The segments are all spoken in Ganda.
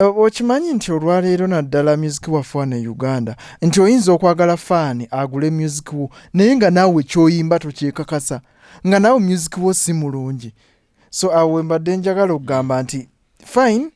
Okimanyi nti olwaleero naddala music waffe wano e Uganda nti oyinza okwagala faani agule music wo naye nga naawe kyoyimba tokyekakasa nga naawe music wo si mulungi so awo wembadde njagala okugamba nti fine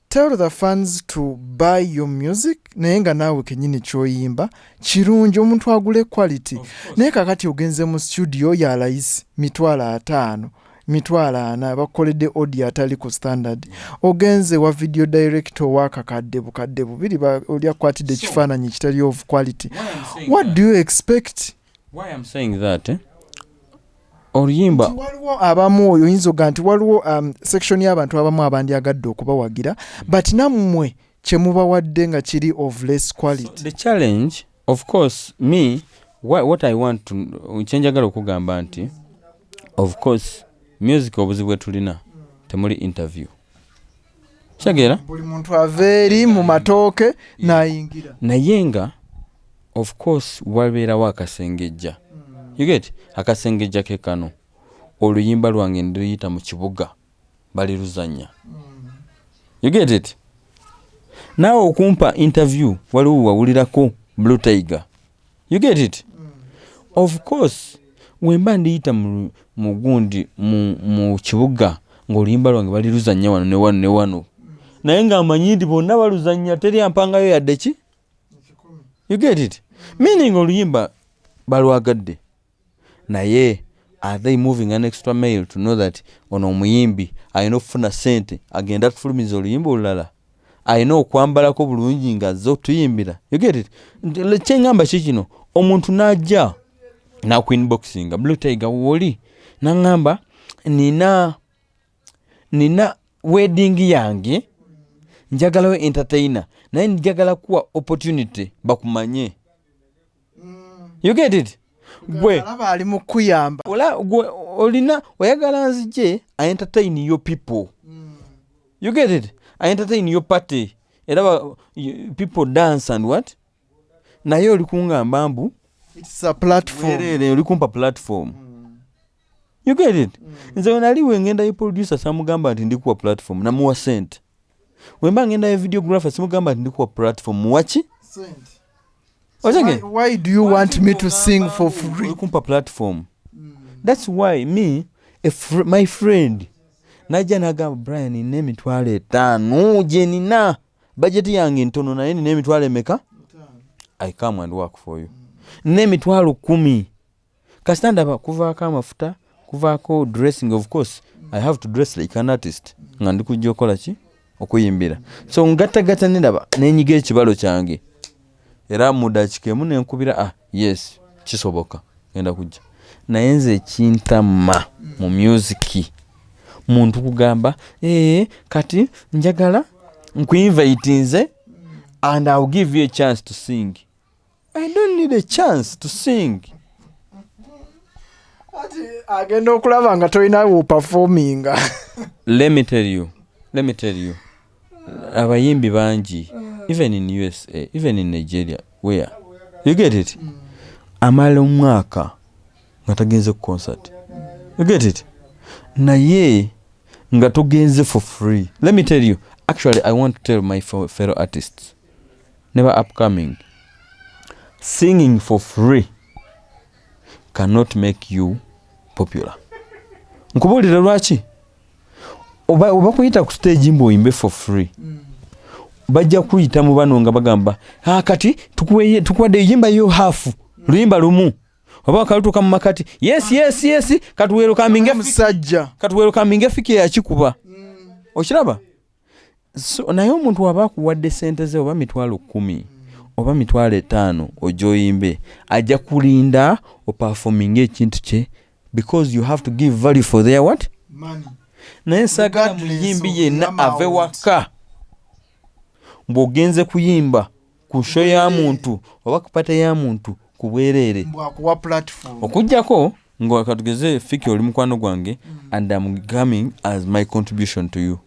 tell the fans to buy your music naye nga naawe kenyini kyoyimba kirungi omuntu agule quality naye kakati ogenze mu studio yalayisi mitwalo ataano mitwalo ana bakukoledde odi atali ku standard ogenze wa video director wakakadde bukadde bubiri oli akwatidde ekifaananyi ekitali of quality what do you expect why I'm saying that eh? oluyimba waliwo abamu oyo oyinza oga nti waliwo um, section y'abantu abamu abandyagadde okubawagira but nammwe kyemubawadde nga kiri of less quality so the challenge of course me wha- what i want to kyenjagala okugamba nti of course music obuzibu bwetulina temuli interview kitegeera buli muntu ava eri mu matooke n'ayingira naye nga of course wabeerawo akasengejja you get akasengejja ke kano oluyimba lwange ndiyita mu kibuga baliruzanya you get it naawe okumpa interview waliwo wawulirako blue tiger you get it of course wemba ndiyita mugundi mu kibuga ngaoluyimba lwange baliruzanya wano newano newano naye nga amanyi nti bonna baluzanya teri ampangayo yadde ki you get it meaning oluyimba balwagadde naye are they moving an extra mail to know that ono omuyimbi alina okufuna sente agenda atufulumiza oluyimba olulala alina okwambalako bulungi nga azze otuyimbira kyeŋamba ki kino omuntu n'ajja nakuinboxinga blue tiger woli naŋamba nina nina wedding yange njagalawo entertainer naye njagala kuwa opportunity bakumanye mm. you get it gwe alaba ali mu kuyamba ola gwe olina oyagala nzije i entertain your people mm. you get it i entertain your party era people dance and what naye oli kungamba mbu it's a platform oli kumpa platform mm. you get it mm. nze wenali wengenda ye producer samugamba nti ndikuwa platform namuwa sente wemba ngenda ye videographer simugamba nti ndikuwa platform muwaki kumpa platform mm. thats why me fr my friend najja nagamba brian nina emitwalo etaano gyenina bajeti yange ntono naye nina emitwalo emeka i come and work for you mm. nina emitwalo kumi kasita ndaba kuvaako amafuta kuvaako dressing of course i have to dress like an artist nga ndi kujja okukola ki okuyimbira so ngattagatta nendaba nenyiga ekibalo kyange era mudakika emu nenkubira ah yes kisoboka genda kujja naye nze ekintama mu musiki muntu kugamba ee eh, kati njagala nkuinvaitinze and ill give you a chance to sing i don't need a chance to sing agenda okulaba nga tolina wopafominga let me tell you let me tell you abayimbi bangi even in usa even in nigeria where you get it mm. amala omwaka nga tagenze ku concert you get it naye nga togenze for free let me tell you actually i want to tell my fellow artists ne ba upcoming singing for free cannot make you popular nkubuulire lwaki oba kuyita ku stage mbu oyimbe for free mm. bajja kuyita mu bano nga bagamba ah, kati tukuwadde eyimba yo hafu mm. luyimba lumu oba wakalutuka mu makati yes yes yes katuweerukaminga musajja katuweerukaminga efiki yakikuba mm. okiraba so naye omuntu waba akuwadde sente ze oba mitwalo kumi oba mitwalo etaano ojoyimbe ajja kulinda opafominga ekintu kye because you have to give value for their what Money. naye sagala muyimbi yenna ave waka bw'ogenze kuyimba ku sho ya muntu oba ku pate ya muntu ku bwereere okujjako nga katugeze fiki oli mukwano gwange mm. and am coming as my contribution to you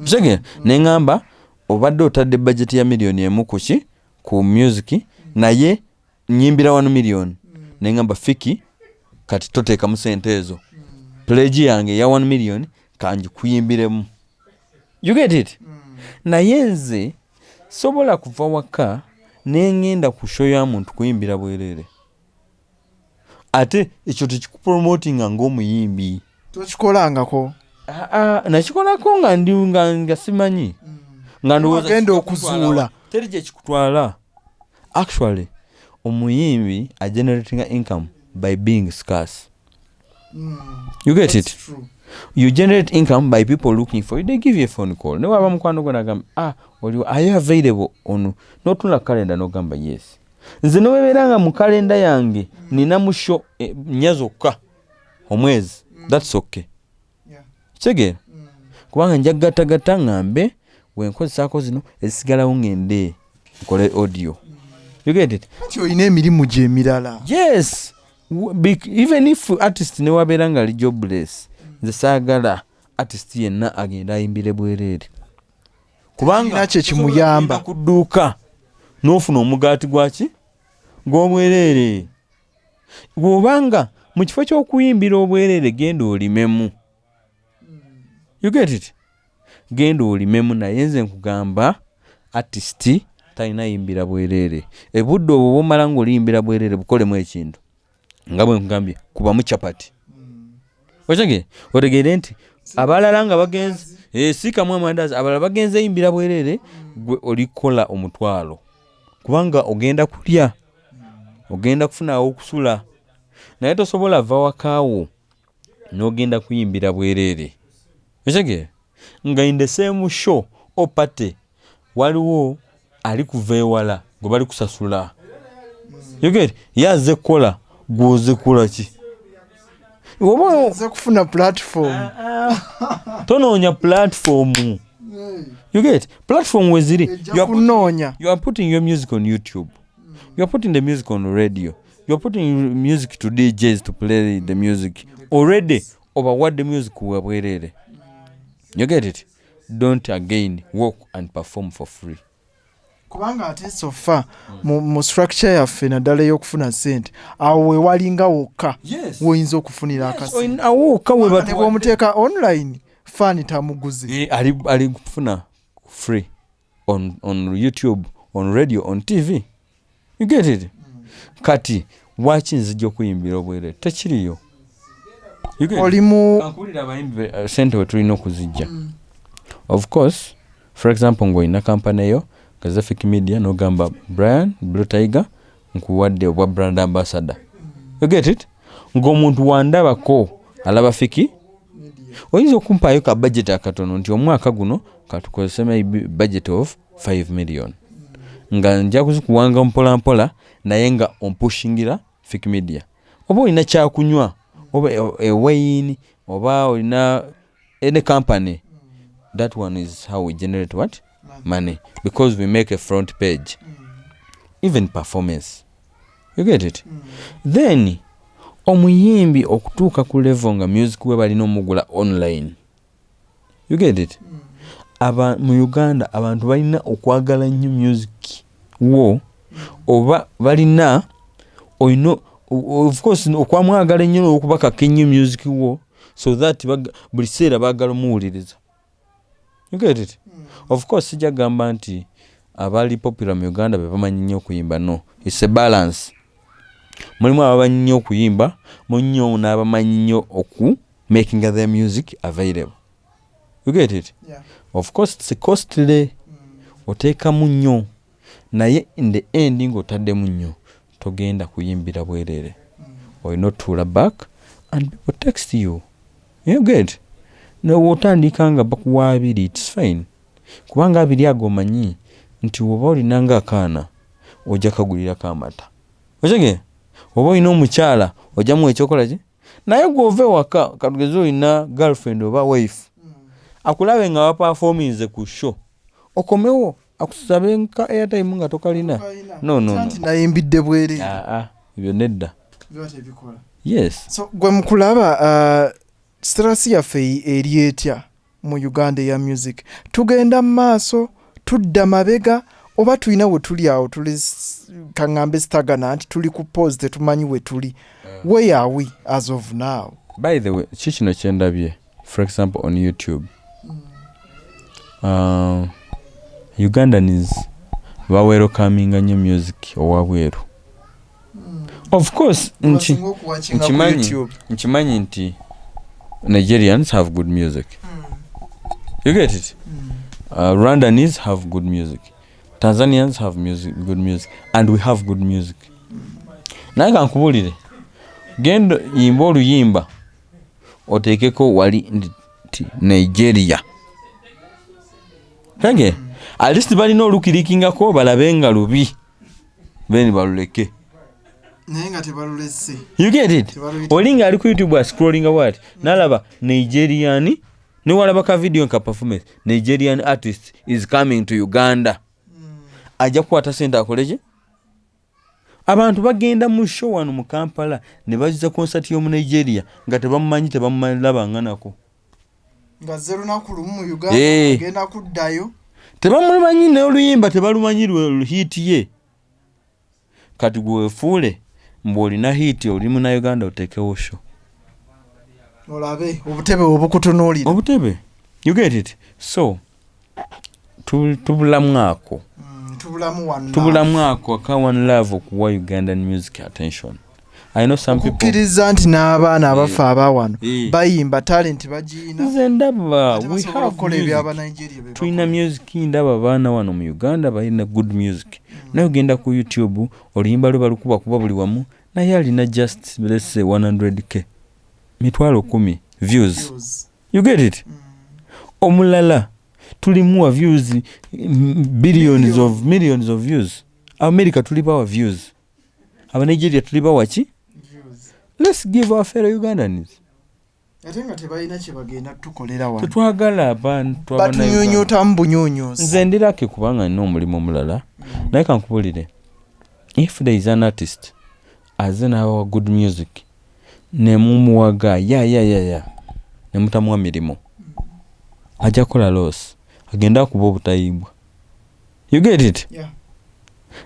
kitegera mm. ne ŋŋamba obadde otadde bajeti ya miliyoni emu ku ki ku music mm. naye nyimbira wano miliyoni ne ŋŋamba fiki kati toteekamu sente ezo pulegi yange eya wano miliyoni kangikuyimbiremu you get it mm. naye nze sobola kuva waka nengenda ku show ya muntu kuyimbira bwerere ate ekyo tekikupromotinga ngaomuyimbi tokikolangako ah, ah, nakikolako nga ndi nga simanyi mm. nga ndowoozaagenda okuzuula teri kyekikutwala actually omuyimbi ageneratinga income by being scarce mm. you get it true. you generate income by people looking for you they give you a phone call nawe aba mukwano gwo nagamba ah oliwo are you available on notunula kalenda nogamba yes nze nowebeera nga mu kalenda yange nina musho eh, nya zokka omwezi that's okay kitegeera mm. kubanga nja kugattagatta ŋŋambe we nkozesaako zino ezisigalawo ŋŋende nkole audio mm. olina emirimu gyo emirala yes even if artist newabeera nga ali jobless mm. nze saagala artist yenna agenda ayimbire bwereere kubanga nakyo ekimuyamba ku dduuka n'ofuna omugaati gwaki gw'obwereere bw'oba nga mu kifo ky'okuyimbira obwereere genda olimemu you get it genda olimemu naye nze nkugamba artist talina yimbira bwereere ebudde obwo bwomala nga oliyimbira bwereere bukolemu ekintu nga bwe nkugambye kubamu capati otegere otegeere nti abalala nga bagenze eh, sikamu amandazi abalala bagenze yimbira bwereere gwe olikola omutwalo kubanga ogenda kulya ogenda kufuna awokusula naye tosobola va wakaawo nogenda kuyimbira bwereere ekitegeera nga in the same show o party waliwo ali kuva ewala gwe bali kusasula yogere ye azze kukola gwoze kukola ki obaoza kufuna platform ah, ah. tonoonya platform you get platform weziri kunoonya you are putting your music on youtube you are putting the music on radio you are putting music to djs to play the music already obawadde music wabwerere you get it don't again walk and perform for free kubanga ate sofa mu structure yaffe naddala ey'okufuna sente awo wewalinga wokka woyinza okufunira akasiwomuteeka online fani tamuguzi eh, ali kufuna free on, on youtube on radio on tv you get it kati waki nzija okuyimbira obwere tekiriyo olimuwulira abayimbi uh, sente wetulina okuzijja mm. of course for example ngaolina kampani eyo gazafic media nogamba brian blue tiger nkuwadde obwa brand ambassador you get it ngaomuntu wandabako alaba fiki oyinza okumpaayo ka budget akatono nti omwaka guno katukozese maybe budget of 5 million nga nja kuzikuwanga mpolampola naye nga ompushingira fik media oba olina kyakunywa oba ewaini e oba olina any company that one is how we generate what money because we make a front page even performance you get it then omuyimbi okutuuka ku level nga music we balina omugula online you get it mm. aba mu uganda abantu balina okwagala nnyo music wo mm. oba balina olina of course okwamwagala ennyo nokubakaka ennyo music wo so that buli kiseera bagala omuwuliriza you get it mm. of course sijja gamba nti abaali popular mu uganda bebamanyi nnyo okuyimba no its a balance mulimu abamanyi nnyo okuyimba munnyo n'abamanyi nnyo oku making their music available you get it yeah. of course it's costly mm. oteekamu nnyo naye in the end ng'otaddemu nnyo togenda kuyimbira bwereere mm. olina otuula back and people text you you get newotandika nga bakuwa abiri its fine kubanga abiri ago omanyi nti woba olinanga akaana ojja kagulirako amata okige oba olina omukyala ojjamu ekyokola ki naye gwe ova ewaka katugeze olina girlfriend oba wife mm. akulabe nga wapafominze ku show okomewo akusabe nka airtime nga tokalina nononayimbidde bwere ah, ah, ebyo nedda yes gwe mukulaba uh, strasi yaffe eri etya mu Uganda eya music tugenda mu maaso tudda mabega oba tulina we tuli awo tuli kaŋŋambe sitagana nti tuli ku pose tetumanyi we tuli eh. where are we as of now by the way ki kino kye ndabye for example on youtube mm. uh, ugandans bawerokaminga nnyo music owabweru of course nki nkimanyi nkimanyi nti nigerians have good music mm. you get it mm. uh, rwandanese have good music tanzanians have music, good music and we have good music mm. naye kankubulire genda yimba oluyimba oteekeko wali nti nigeria kage mm. at least balina olukirikingako balabe nga lubi then baluleke naye nga tebalulese you get it olinga ali ku youtube ascrolling awat nalaba nigerian niwalaba ka video nka performance nigerian artist is coming to uganda mm. ajja kukwata sente akoleki abantu bagenda mu show wano mu kampala ne baziza konsati y'omu nigeria nga tebamumanyi tebamumalaba nganako Eh. tebamumanyi noluyimba tebalumanyi lwehiti ye kati gwewefuule mbu olina hiti oli munauganda otekewo sho olabe obutebe obukutunuulira obutebe you get it so tubulamu ako mm, tubulamu ako aka one love okuwa ugandan music attention okukkiriza nti n'abaana eh. abaffe abawano eh. bayimba talenti bagiinaze ndaba tulina music ndaba abaana wano mu uganda balina good music mm. naye ogenda ku youtube oluyimba lwe balukuba kuba buli wamu naye alina just lese 100 k mitwalo kumi views, views. you get it mm. omulala tulimu wa views billions of millions of views america tuli bawa views abanigeria tuli bawa ki let's give our fellow ugandans ate nga tebalina kyebagenda tukolera wano tetwagala abantu batunyonyotamu bunyonyozi nze ndirake kubanga nina omulimu omulala mm. naye kankubulire if there is an artist Aze nabawa good music nemumuwaga ya ya ya ya nemutamuwa mirimu aja kola loss agenda akuba obutayimbwa you get it yeah.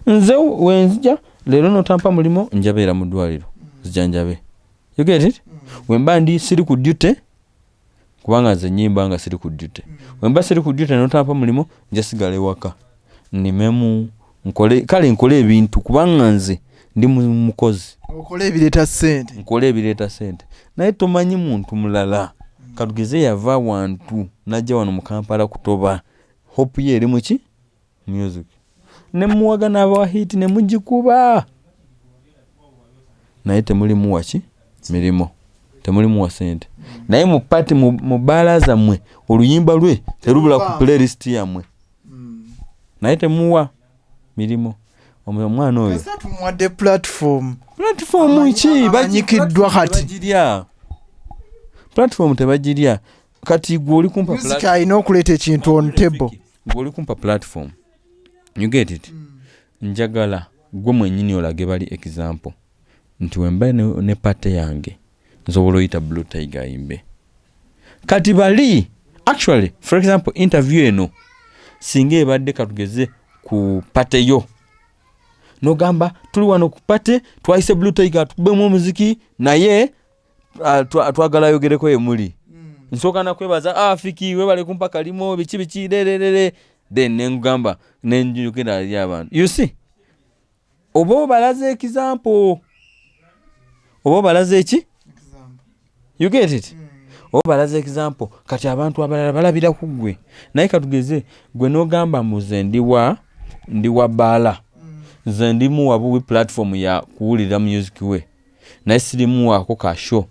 nze wenzija lero notampa mulimo njabeera mudwaliro mm. zijanjabe you get it mm. wemba ndi siri ku duty kubanga nze nyimba nga siri ku duty wemba siri ku duty notampa mulimu nja sigala ewaka nimemu nkole kale nkole ebintu kubanga nze ndi mukozi okola ebireeta sente nkola ebireeta sente naye tomanyi muntu mulala katugeze yava wantu najja wano mukampala kutoba hope ye eri muki music ne muwaga n'abawa hiiti ne mugikuba naye temulimu waki mirimu temulimu wa sente naye mu pati mu bbaala zammwe oluyimba lwe terubula ku playlist yammwe naye temuwa mirimu omwana oyo tumuwadde platform platform ki banyikiddwa kati platform tebagirya kati gwe oli kumpa music alina okuleeta ekintu on table gwe oli kumpa platform you get it mm. njagala gwe mwenyini olage bali example nti wemba ne, ne pate yange nsobola oyita blue tiger ayimbe kati bali actually for example interview eno singa ebadde katugeze ku pate yo nogamba tuli wano ku pate twayise blue tiger atukubemu omuziki naye ah, twagala ayogereko yemuli hmm. nsooka nakwebaza ah, afiki webale kumpa kalimo biki biki lererere then nengugamba nenjukira ali abantu you see oba obalaze ekizampo oba obalaze eki you get it hmm. oba obalaze ekizampo kati abantu abalala balabira ku gwe naye katugeze gwe nogamba muze ndiwa ndiwa baala hmm. nze ndimuwabuwi platform ya kuwulira music we naye sirimuwaako ka show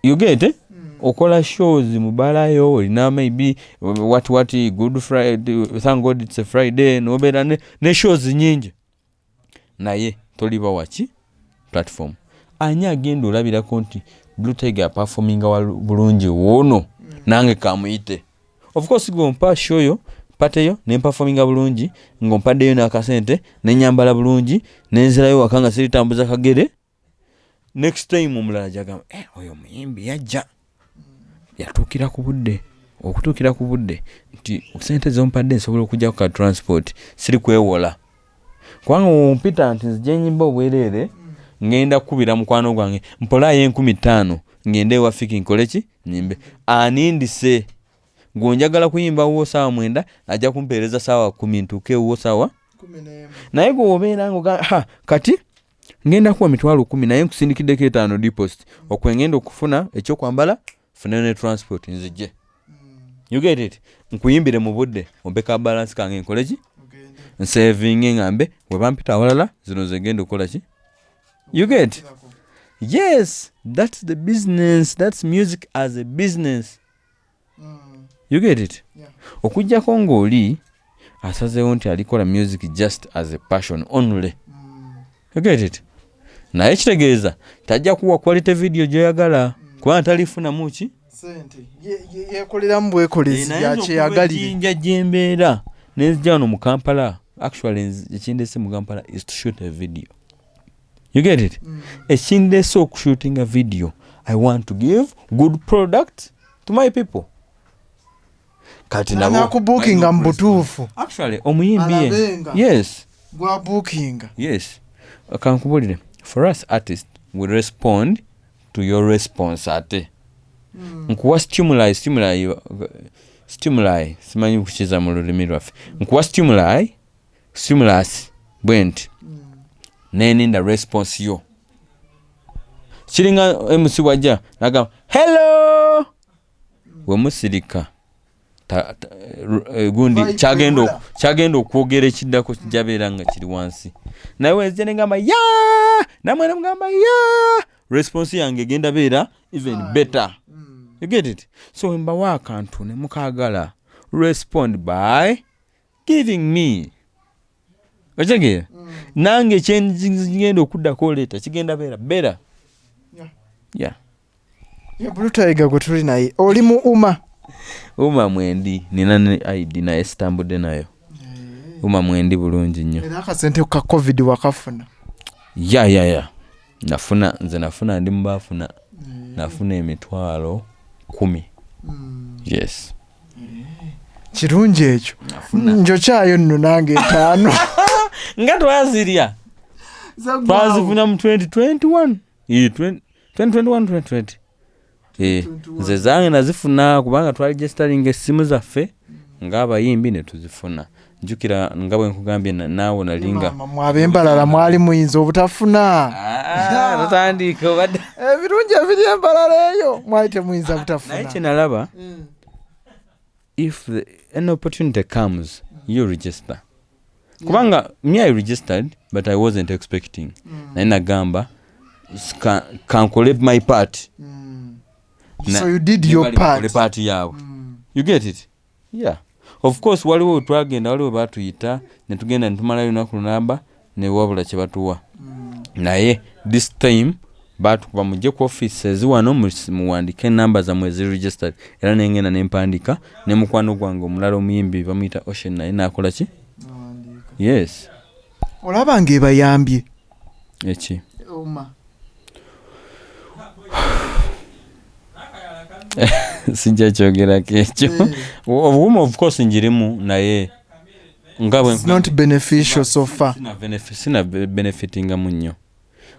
you get it? Mm. okola shows mubalayo olina maybe what what good friday thank god it's a friday nobeera ne, ne shows nyingi naye toliba waki platform ani agenda olabirako nti blue tiger performinga bulungi woono mm. nange kamuyite of course gwompa show yo pateyo nempafominga bulungi ngompaddeyo n'akasente nenyambala bulungi nenzirayo waka nga siritambuza kagere next time omulala jagamba eh, oyo omuyimbi yajja yatuukira ku budde okutuukira ku budde nti sente zompadde nsobola okujja ku ka transport siri kwewola kubanga wompita nti nzijenyimba obwereere ngenda kukubira mukwano gwange mpolaayo enkumi ttaano ngende ewa fiki nkole ki nyimbe anindise gwenjagala kuyimba wuwo saawa mwenda ajja kumpeereza saawa kumi ntuuke ewuwo saawa naye gwe wobeera nga kati ngenda kuwa mitwalo kumi naye nkusindikiddeko etaano deposit okwengenda okufuna ekyokwambala funa ne transport nzije you get it nkuyimbire mu budde ompe ka balance kange nkole ki nsavinge ngambe webampita awalala zino zegenda okukola ki you get yes that's the business that's music as a business mm. you get it yeah. okujjako ng'oli asazeewo nti alikola music just as a passion only mm. naye kitegeeza tajja kuwa quality video gyoyagala kubanga talifunamu ki yekoleramu bwekoleziyakyeyagalinja gyembeera nenzija wano mu kampala actually ekindese mu kampala is to shoot a video you get it mm. ekindese okushootinga video i want to give good product to my people kati nabo nakubukinga mu butuufu actually omuyimbi ye- Alabenga. yes gwa bukinga yes kankubulire for us artist we respond to your response ate Hmm. nkuwa stimuli stimuli yo- stimuli simanyi kukiza mu lulimi lwaffe nkuwa stimuli stimulus bwe nti Hmm. neninda response yo kiringa mc wajja nagamba hello wemusirika eh, gundi kyagenda okwogera ekiddako kijabeera nga kiri wansi naye wenzija negamba ya namwe nemugamba ya response yange egenda beera even ah. better mm. you get it so wembawo akantu nemukagala respond by giving me otegeera mm. nange kyengenda okuddako oleeta kigenda beera beera ya bulutayiga gwe tuli naye oli mu uma uma mwendi nina ne id naye sitambudde nayo eh. uma mwendi bulungi nnyo era akasente ka covid wakafuna ya ya ya nafuna nze nafuna ndi mubaafuna eh. nafuna emitwalo kumi mm. yes kirungi ekyo njokyayo nno nange etaano nga twazirya twazifuna mu 2021 Ii, 20 2021 2020 Eh, nze zange nazifuna kubanga twali gesitalinga essimu zaffe ng'abayimbi ne tuzifuna jjukira nga bwe nkugambye na- naawe nalinga Maama, mwe ab'embalala mwali muyinza obutafuna Ah, totandika obadde ebirungi ebiri embalala eyo mwali temuyinza naye butafuna kyenalaba if the, an opportunity comes you register kubanga me i registered but i wasn't expecting naye nagamba "S- ka- kankole my part Mm. Na- so you did ne your bali bakole part part yaabwe you get it yeah of course waliwo wetwagenda waliwo batuyita netugenda netumalayo lunaku lunamba newabula kyebatuwa mm. naye this time batukuba mujje ku office eziwano muwandike enamba zamwe eziregistered era nengenda nempandika ne mukwano gwange omulala omuyimbi bamuyita ocean naye nakolaki yes olaba nga ebayambye eki oma sijja kyogerako ekyo eh. obuuma of course njirimu naye nga bwe not beneficial so far sina benefitingamu nnyo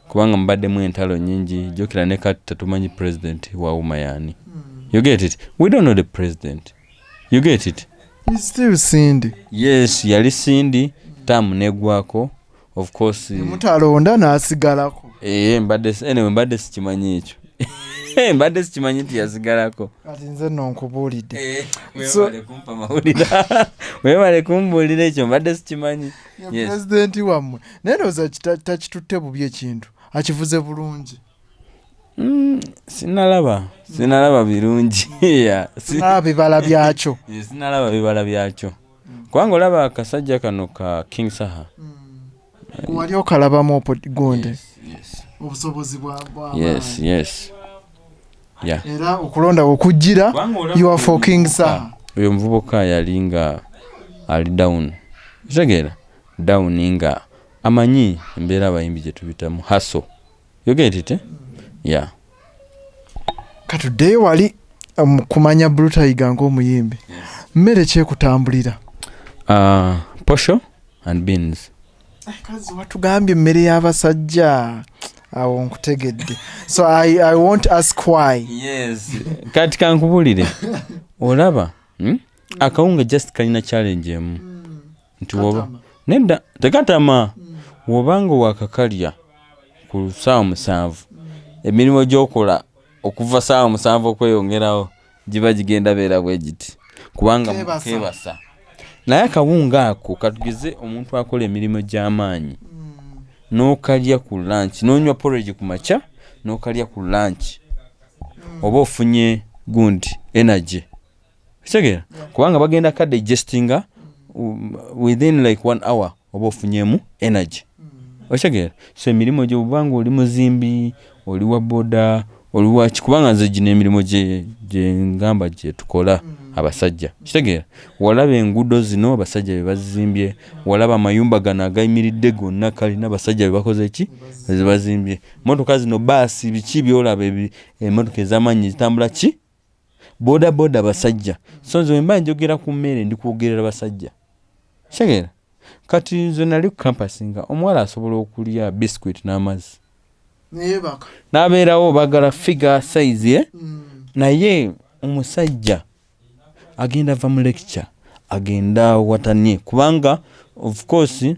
kubanga mubaddemu entalo nyingi jukira ne kati tetumanyi president wawuma yani you get it we don't know the president you get it He's still Cindy. yes yali sindi tamu negwako of course Mutalonda n'asigalako. eh mbadde si- anyway mbadde sikimanyi ekyo Eh, mbadde sikimanyi nti yasigalako Kati nze nno nkubuulidde. So- webale kumpa mawulira webale kumbuulira ekyo mbadde sikimanyi pulezidenti wammwe naye ndowooza takitutte bubi ekintu akivuze bulungi mm, sinalaba sinalaba birungi sinalaba bibala byakyo sinalaba bibala byakyo kubanga olaba akasajja kano ka king saha mm. wali okalabamu gonde obusobozi bwa yes yes yeah. era okulonda wokujjira you are for king sa oyo omuvubuka yali nga ali down kitegeera down nga amanyi embeera abayimbi gyetubitamu haso yogetite eh? ya katuddeyo wali um, kumanya brutayiga ngaomuyimbi mmere kyekutambulira uh, posho and beans kazi watugambye emmere y'abasajja awo nkutegedde so I, i won't ask why yes kati kankubulire olaba hmm? akawunga just kalina challenge emu hmm. nti woba nedda tekatama hmm. wobanga wakakalya ku saawa musanvu hmm. emirimu gyokola okuva saawa musanvu okweyongerawo giba gigenda beera bwe giti kubanga kebasa naye akawunga ako katugeze omuntu akola emirimu gy'amaanyi hmm. n'okalya ku lanki n'onywa poregi ku makya n'okalya ku lanki hmm. oba ofunye gundi energy kitegeera kubanga bagenda ka digestinga um, within like one hour oba ofunyemu energy okitegeera so emirimu gyo oba nga oli muzimbi oli wa boda oli waki kubanga nze gino emirimu gyengamba gyetukola abasajja kitegeera walaba enguudo zino abasajja bebazizimbye walaba amayumba gano agayimiridde gonna kalina abasajja bebakoze ki ezibazimbye motoka zino baasi biki byolaba emotoka ezamaanyi ezitambula ki boda boda basajja so nze wemba njogera ku mmere ndi kwogerera basajja kitegeera kati nze nali ku kampasi nga omuwala asobola okulya biscuit n'amazzi n'abeerawo bagala figa sayizi ye eh? mm. naye omusajja agenda va mu lecture agenda watanie kubanga of course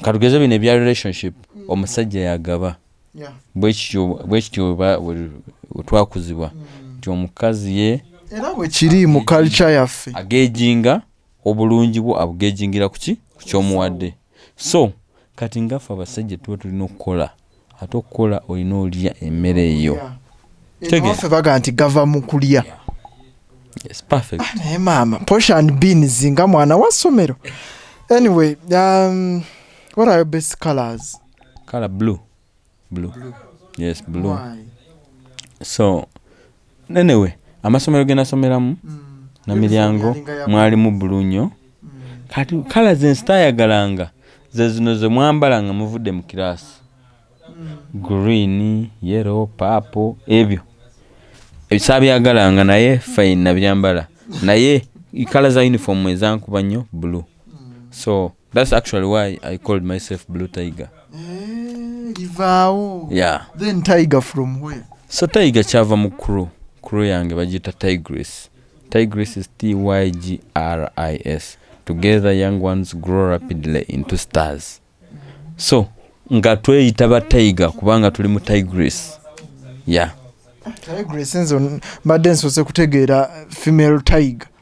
katugeze bino ebya relationship mm. omusajja yagaba bwekityo twakuzibwa mm. nti omukazi ye era bwekiri mu culture yaffe agejinga obulungi bwo abugejingira kuki kukyomuwadde so kati ngaffe abasajja tuba tulina okukola ate okukola olina olya emmere eyo abafe baga nti gava mu kulya ah, naye maama posh and beans nga mwana wa ssomero anyway um, what are your best colors color blue blue, blue. yes blue Why? so Anyway, amasomero ge nasomeramu mm. na miryango mwalimu bulu nnyo mm. kati kala ze nsitayagalanga ze zino ze mwambala nga muvudde mu kiraasi mm. green yero paapo ebyo ebisabyagalanga naye fayina byambala naye kala za uniform ezankuba nnyo bulu so That's actually why I called myself Blue Tiger. Eh, Livao. Yeah. Then Tiger from where? So Tiger chava mu crew. Crew yange bajita Tigris. Tigris is T Y G R I S. Together young ones grow rapidly into stars. So nga tweyita ba Tiger kubanga tuli mu Tigris. Yeah. Tigris nzo mbadde nsose kutegeera female tiger.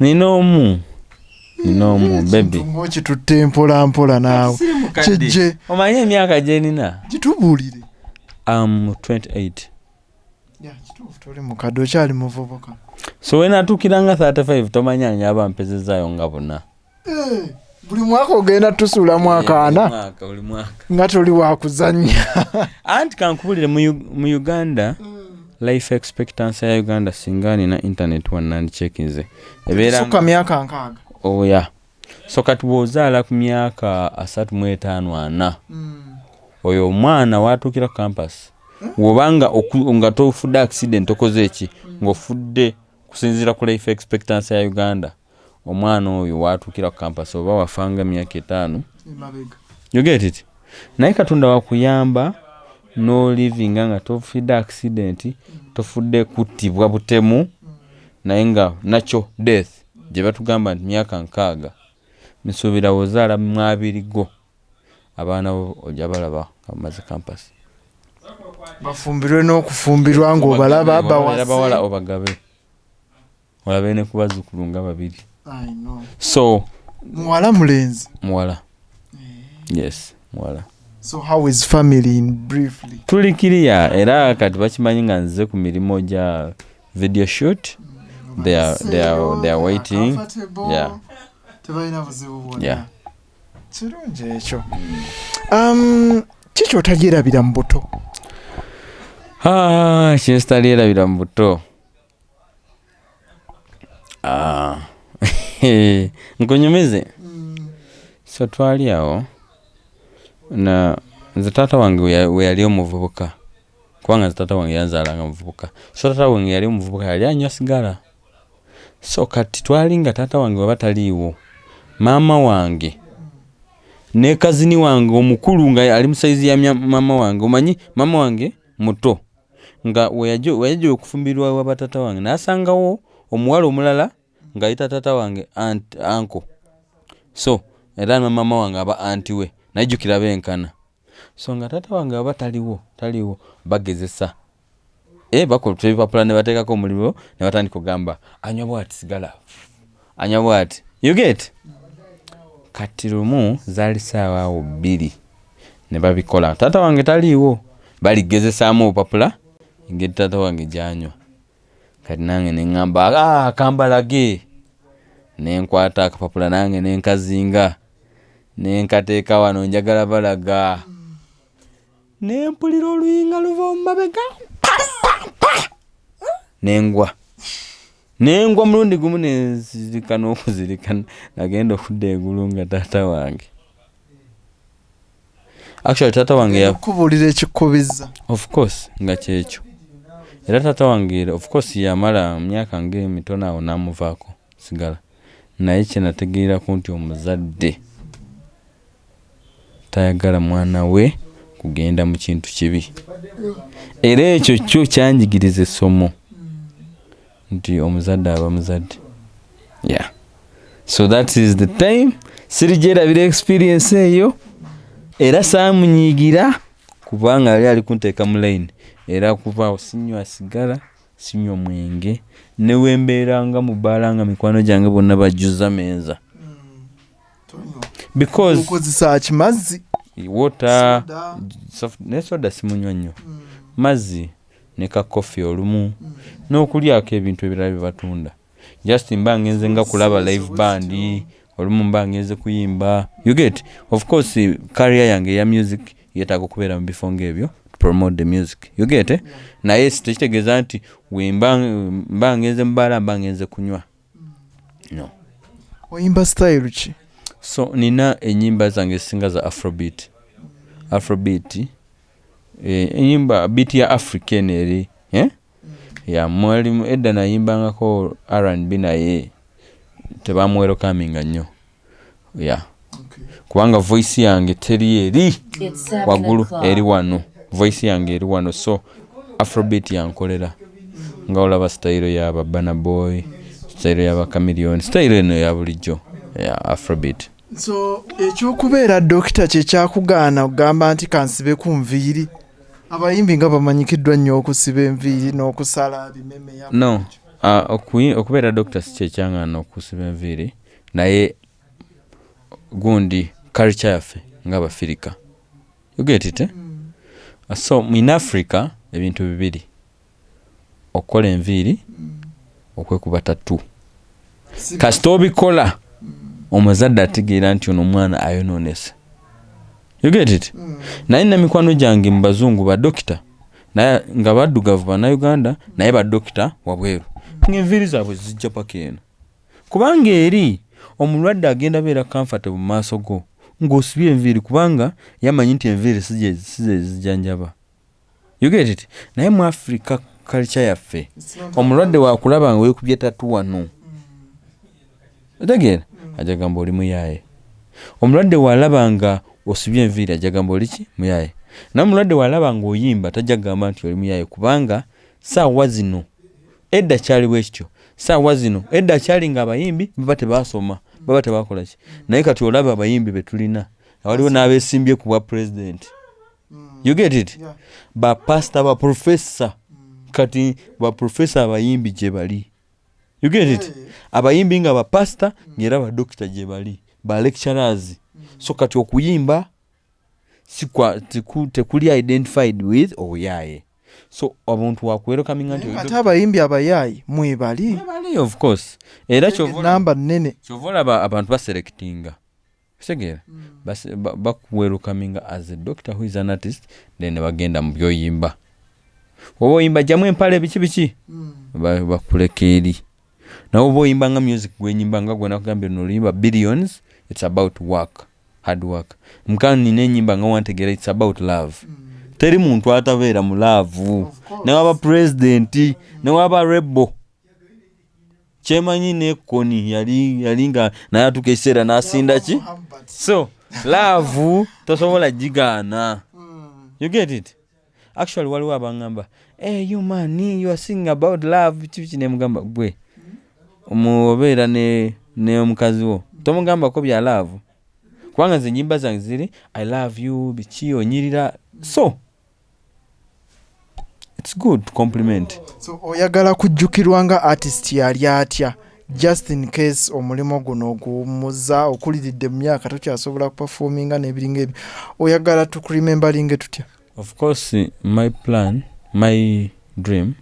nina omu nina omu bebi kitutte mpola mpola naawe kijje omanyi emyaka gyenina gitubulire am 28 so wenatuukira nga 35 tomanya nga aba mpezezayo nga buna eh, buli mwaka ogenda tusuulamu eh, akaana nga toli wakuzanya anti kankubulire mu uganda mm. life expectancy ya uganda singa nina internet wanandikyekinze ebeerasuka myaka nkaaga oya oh, so kati bwozaala ku myaka asatu mu etaano ana mm. oyo omwana watuukira ku campus hmm? wobanga nga tofudde accident okoze eki hmm. ng'ofudde kusinziira ku life expectancy ya uganda omwana oyo watuukira ku kampasi oba wafanga emyaka etaano yogetiti naye katonda wakuyamba nolivinga nga tofudde akisidenti tofudde kuttibwa butemu naye nga nakyo death gye batugamba nti myaka nkaaga nsuubira wozaala mwabiri go abaana bo ojja balaba nga bamaze kampasi bafumbirwe n'okufumbirwa ng'obalaba bawala obagabe olabe ne kubazukulu nga babiri so muwala mulenzi muwala eh. yes muwala so how is family in briefly tuli kiriya era kati bakimanyi nga nzize ku mirimu gya video shoot mm, they are, they are, they are waiting yeah. tebalina buzibu bwona yeah. kirungi ekyo um, kikyotagyerabira mu buto ah, kyesitalyerabira mu buto Ah, nkunyumize so twali awo na nze taata wange we ya- we yali omuvubuka kubanga nze taata wange yanzaala nga muvubuka so taata wange yali omuvubuka yali anywa sigala so kati twali nga taata wange waba taliiwo maama wange ne kazini wange omukulu nga ali mu saizi ya mya- maama wange omanyi maama wange muto nga weyajja okufumbirwa ewa batata wange nasangawo omuwala omulala ngaayita tata wange anko so era namaama wange aba anti we najjukira benkana so nga tata wange aba taliwo taliwo bagezesa e eh, bakola ebipapula nebateekako omuliro nebatandika ogamba anywa bwati sigala anya bwati you get kati lumu zaali saawa awo bbiri ne babikola taata wange taliiwo baligezesaamu obupapula engeri taata wange gyanywa kati nange neŋamba ah, kambalage nenkwata akapapula nange nenkazinga nenkateeka wano njagala balaga ne mpulira oluyinga luva mu mabega nengwa nengwa mulundi gumu nenzirika n'okuzirika nagenda okudda egulu nga taata wange actually taata wange yakubuulira ekikubiza of course nga kyekyo era taata wange of course yamala myaka ngaemitono awo namuvaako sigala naye kyenategeerako nti omuzadde tayagala mwana we kugenda mu kintu kibi. Era ekyo kyo kyanjigiriza essomo nti omuzadde aba muzadde. Yeah. So that is the time sirigyerabira experience eyo era saamunyiigira kubanga yali ali kunteeka mu layini era kuvaawo sinywa sigala sinywa mwenge newembeera nga mubaala nga mikwano gyange bonna bajjuza meeza because okozesa ki mazzi water Soda. soft- ne soda simunywa nnyo Mm. mazzi ne ka coffee olumu n'okulyako ebintu ebirala bye batunda just mba ngenze nga kulaba live band olumu mba ngenze kuyimba you get of course career yange eya music yetaaga okubeera mu bifo ng'ebyo to promote the music you get eh? naye si- tekitegeeza nti wemba mba ngenze mubaala mba ngenze kunywa no oyimba style ki so nina enyimba zange ezisinga za afrobeat afrobeat eh, enyimba beat ya african eri eh? ya mwalimu edda nayimbangako rnb naye tebamwerokaminga nnyo ya kubanga voice yange teri eri waggulu eri wano voice yange eri wano so afrobit yankolera nga olaba sitayiro ya babana boy sitayiro ya bakamiliyoni sitayiro eno ya bulijjo ya afrobit so ekyokubeera dokita kyekyakugaana okugamba nti kansibe ku nviiri abayimbi nga bamanyikiddwa nnyo okusiba enviiri n'okusala bimeme no ah, okubeera dokita si kyekyangaana okusiba enviiri naye gundi culture yaffe nga abafirika you get it eh? mm. so in africa ebintu bibiri okukola enviiri mm. okwekuba tatu kasita obikola mm. omuzadde ategeera nti ono omwana ayonoonese you get it mm. naye namikwano gyange mu bazungu badokita naye nga baddugavu banauganda naye badokita wabweru mm. ngaenviiri zaabwe zijja paka eno Kubanga eri omulwadde agenda beera comfortable mu maaso go nga osibye enviiri kubanga ye amanyi nti enviiri si gye si ze zijanjaba. You get it? Naye mu Africa culture yaffe omulwadde wakulaba nga wekubye tatu wano. Otegeera? Aja gamba oli muyaaye. Omulwadde walaba nga osibye enviiri aja gamba oli ki? Muyaaye. Naye omulwadde walaba nga oyimba taja gamba nti oli muyaaye kubanga saawa zino edda kyali bwekityo saawa zino edda kyali nga abayimbi baba tebasoma baba tebakolaki naye kati olaba abayimbi betulina awaliwo n'abesimbye ku bwa pulezidenti mm. you get it bapasita baprofesa mm. kati baprofesa abayimbi gye bali you get it abayimbi nga bapasita mm. ngaera badokita gye bali ba lecturers so kati okuyimba tekuli identified with obuyaye oh, so omuntu wakuwerokaminga nti ate abayimbi abayaayi mwebali of course era namba nnene kyova olaba abantu baselectinga kitegeera hmm. bakuwerokaminga as a doctor who is an artist then nebagenda mu byoyimba oba oyimba jamu empale biki biki hmm. bakuleka eri nawe oba oyimba nga music gwenyimba nga gwenakugambye noluyimba billions it's about work hard work muka nina enyimba nga wantegera it's about love teri muntu atabeera mu laavu newaba pulezidenti newaba rebo kyemanyi nekoni yali yali nga naye atuuka ekiseera nasinda ki so laavu tosobola gigaana you get it actually waliwo abangamba hey, eh, you man you are singing about love kibiki nemugamba gwe omubeera ne ne omukazi wo tomugambako bya love kubanga nze enyimba zange ziri i love you biki onyirira so its good compliment so oyagala kujjukirwa nga artist yali atya just in case omulimu guno oguwummuza okuliridde mu myaka tokyasobola kupafominga n'ebiringa ebyo oyagala tukuremembalinge tutya of course my plan my dream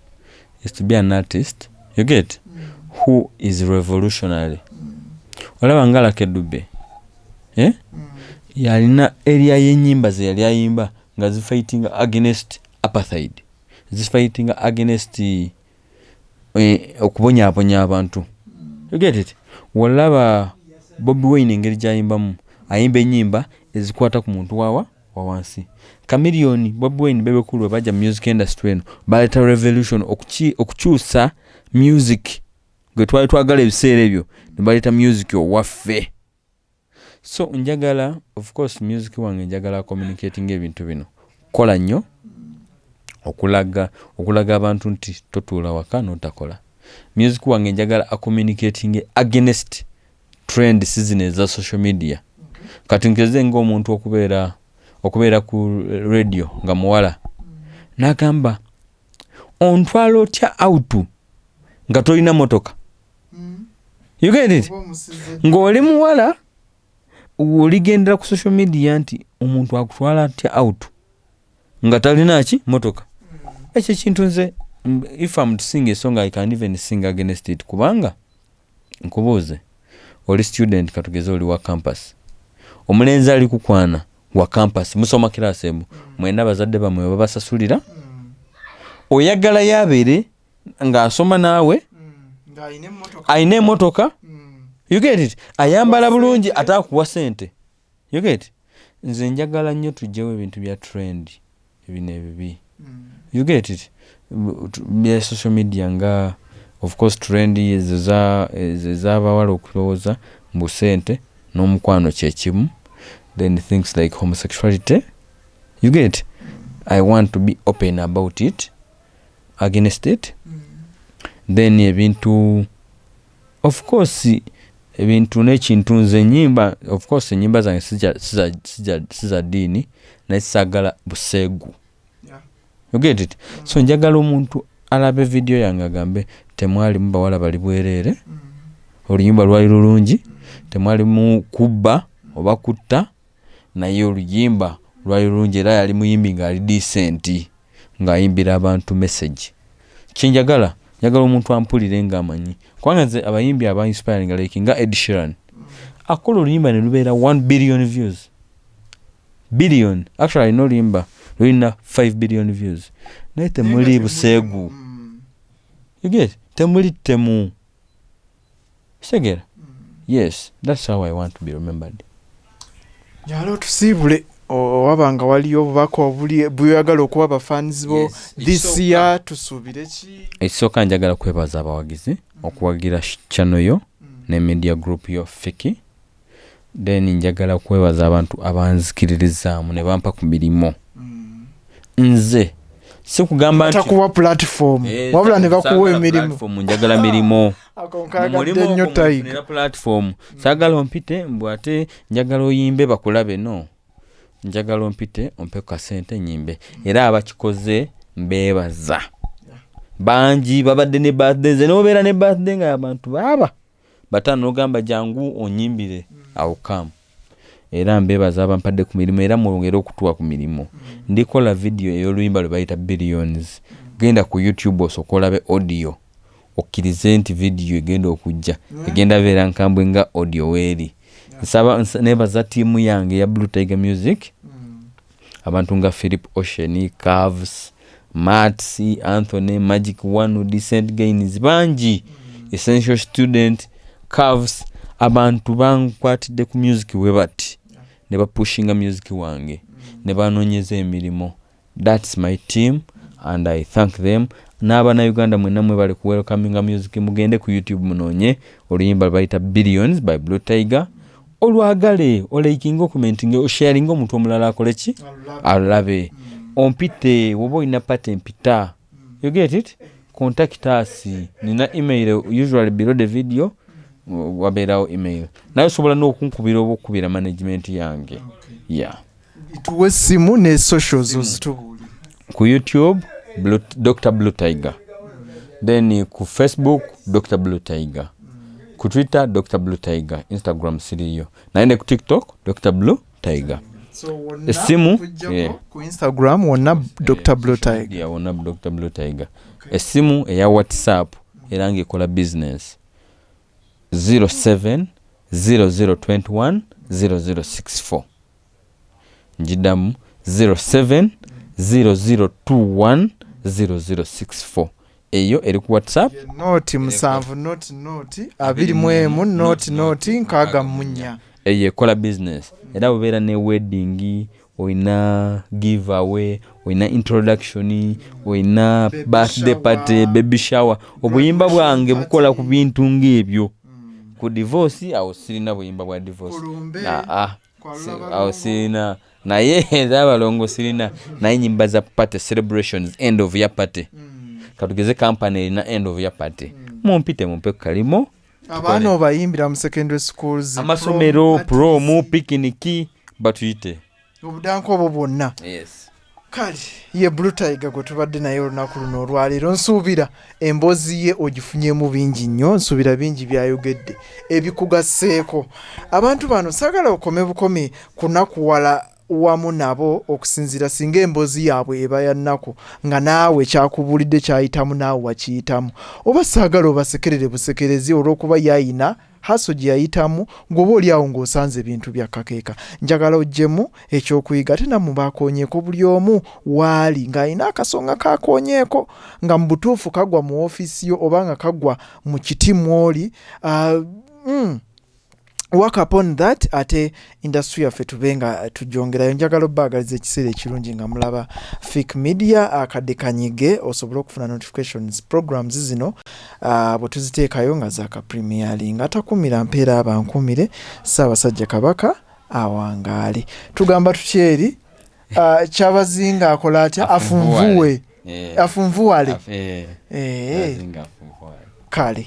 is to be an artist you get mm. who is revolutionary mm. olaba nga lakedube eh? mm. yalina eria yenyimba ze yali ayimba nga zifighting against apartheid zifighting against uh, eh, okubonyabonya abantu egetit walaba bobi wayne engeri gyayimbamu ayimba enyimba ezikwata ku muntu wawa wawansi kamiliyoni bobi wayne bebekulu webajja mu music industry eno baleeta revolution okukyusa music gwe twali twagala ebiseera ebyo nebaleeta music owaffe so njagala of course music wange njagala communicating ebintu bino kola nnyo okulaga okulaga abantu nti totuula waka notakola music wange njagala acommunicating against trend season eza social media kati nkeze ngaomuntu okubeera okubeera ku radio nga muwala nagamba ontwala otya autu nga tolina motoka mm. you get it ng'oli muwala oligendera ku social media nti omuntu akutwala atya out nga talina ki motoka mm. ekyo ekintu nze if am sing esong i can even sing against it kubanga nkubuuze oli student katugeze oli wa campus omulenzi ali kukwana wa campus musoma kirasi emu mwena abazadde bamwe babasasulira oyagala yabeere ng'asoma naawe alina emotoka yugetit ayambala bulungi ate akuwa sente yuget nze njagala nnyo tujjewo ebintu bya trend ebino ebibi yugetit bya social media nga ofcourse trend ezabawala okulowooza mbu sente n'omukwano kyekimu then things like homosexuality yuget i want to be open about it against it then ebintu of course ebintu nekintu nze enyimba of course enyimba zange siza diini naye sagala busegu you get it so njagala omuntu alabe vidiyo yange agambe temwalimu bawala bali bwereere mm. oluyimba lwali lulungi temwalimu kubba oba kutta naye oluyimba lwali lulungi era yali muyimbi nga ali decent nga ayimbira abantu message kyenjagala njagala omuntu ampulire nga amanyi kubanga nze abayimbi aba inspiring like nga Ed Sheeran akola oluyimba ne lubeera 1 billion views billion actually alina oluyimba lulina 5 billion views naye temuli buseegu you get temuli temu kitegeera yes thats how i want to be remembered nyala otusiibule owaba nga waliyo obubaka obuli bweyagala okuwa bafans bo this year tusuubire ki ekisooka njagala kwebaza abawagizi okuwagira chano yo mm. ne media group yo fiki Then njagala kwebaza abantu abanzikiririzaamu ne bampa ku mirimu nze sikugamba nti takuwa platform Eh, wabula ne bakuwa saagala emirimu platform, njagala mirimu Ako Mu nkagadde mulimu nnyo ogwo Tiger. mwefunira platform saagala ompite mbu ate njagala oyimbe bakulabe no njagala ompite ompe ku kasente nyimbe era abakikoze mbeebaza bangi babadde ne birthday nze nobeera ne birthday nga abantu baaba bata nogamba jangu onyimbire awo kamu era mbebaza abampadde ku mirimu era mwongere okutuwa ku mirimu ndikola vidiyo ey'oluyimba lwe bayita billions genda ku youtube osooka olabe audio okkirize nti vidiyo egenda okujja egenda beera nkambwe nga audio weeri nsaba nebaza tiimu yange ya blue tiger music mm. abantu nga philip ocean carves mats anthony magic one decent gains bangi essential student carves abantu bankwatidde ku music we bati ne bapushinga music wange ne banoonyeza emirimu thats my team and i thank them n'abana uganda mwena mwebale ku welcominga music mugende ku youtube munoonye oluyimba lwebayita billions by blue tiger olwagale olaikinga okumentinga osharinga omuntu omulala akole ki alabe mm. ompite woba olina pati empita mm. you get it contact us nina email usually below the video mm. wabeerawo email naye osobola n'okunkubira oba okukubira management yange okay. yeah tuwe essimu ne socials ozitubuuli ku youtube blue, dr blue tiger then ku facebook dr blue tiger ku twitter dr blue tiger instagram siriyo naye ne ku tiktok dr blue tiger essimu ku instagram wonna dr blue tiger wonna dr blue tiger essimu eya whatsapp era ngaekola business 07 0021 0064 njidamu 0700210064 eyo eri ku whatsapp noti musanvu noti noti abiri mu emu noti noti nkaaga munya eyo ekola business era bubeera ne wedding olina give away olina introduction olina birthday party baby shower obuyimba bwange bukola ku bintu ng'ebyo mm. ku divorce awo sirina buyimba bwa divorce ah, awo sirina naye ezabalongo sirina naye nyimba za party celebrations end of year party mm. katugeze kampani erina end of year party mm. mumpite mumpe kukalimo abaana obayimbira mu secondary schools amasomero promu pikiniki batuyite obudanka obwo bwonna kale ye brutayiga gwe tubadde naye olunaku luno olwaleero nsuubira emboozi ye ogifunyemu bingi nnyo nsuubira bingi byayogedde ebikugasseeko abantu bano saagala okome bukome kunakuwala wamu nabo okusinziira singa emboozi yaabwe eba ya nnaku nga naawe kyakubuulidde kyayitamu naawe wakiyitamu oba saagala obasekerere busekerezi olw'okuba yayina haso gye yayitamu ng'oba oli awo ng'osanze ebintu bya kakeeka njagala oggyemu ekyokuyiga ate nammwe baakoonyeeko buli omu waali ng'alina akasonga kaakoonyeeko nga mu butuufu kagwa mu ofiisi yo oba nga kagwa mu kiti mw'oli uh, mm. work upon that ate industry yaffe tube nga tujongerayo njagala obaagaliza ekiseera ekirungi nga mulaba fik media akadde kanyige osobole okufuna notifications programs zino uh, bwe tuziteekayo nga zaka premiering atakumira mpeera abankumire saabasajja kabaka awangaale tugamba tutyeri uh, kyabazinga akola atya afunvuwe afunvuwale eh. eh. eh. kale